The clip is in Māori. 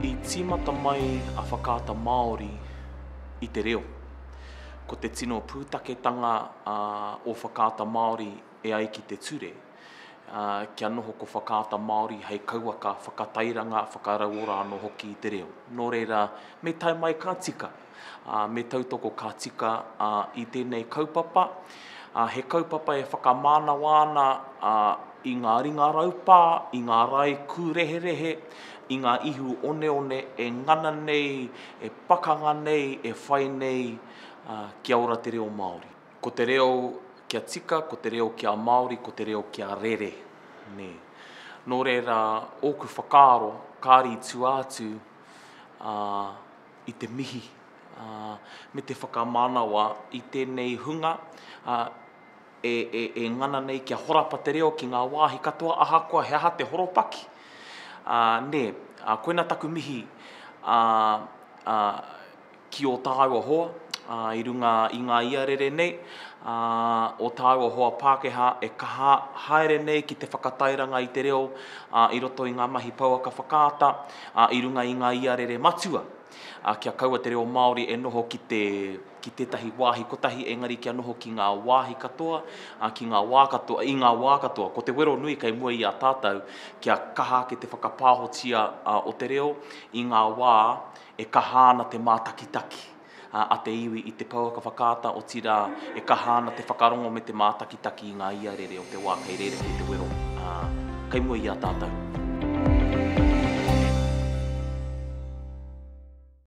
I tīmata mai a Whakaata Māori i te reo. Ko te tino pūtaketanga o Whakaata Māori e ai ki te ture, kia noho ko Whakaata Māori hei kauaka whakatairanga, whakarauora anō hoki i te reo. Nō reira, me tae mai ka tika! ā, me tautoko ka tika i tēnei kaupapa. He kaupapa e whakamānawa ana i ngā ringa raupā, i ngā rae kūreherehe, i ngā ihu oneone e ngana nei, e pakanga nei, e whai nei kia ora te reo Māori. Ko te reo kia tika, ko te reo kia Māori, ko te reo kia rere. Nē. Nō reira, ōku whakaaro, kāre i tua atu, ā, i te mihi me te whakamanawa i tēnei hunga e ngana nei kia horapa te reo ki ngā wāhi katoa ahakoa he aha te horopaki. Nē, koina taku mihi ki ō tāua hoa i runga i ngā ia rere nei, ō tāua hoa Pākehā e kaha haere nei ki te whakatairanga i te reo i roto i ngā mahi pouaka whakaata, ā, i runga i ngā iarere matua, ā, kia kaua te reo Māori e noho ki te, ki tētahi wāhi kotahi, engari kia noho ki ngā wāhi katoa, ā, ki ngā wā katoa, i ngā wā katoa. Ko te wero nui kei mua i a tātou, kia kaha ake te whakapāhotia o te reo i ngā wā e kaha ana te mātakitaki. a te iwi i te pouaka whakaata, otirā, e kaha ana te whakarongo me te mātakitaki i ngā iarere o te wā kei reira kei te wero, ā, kei mua i a tātou.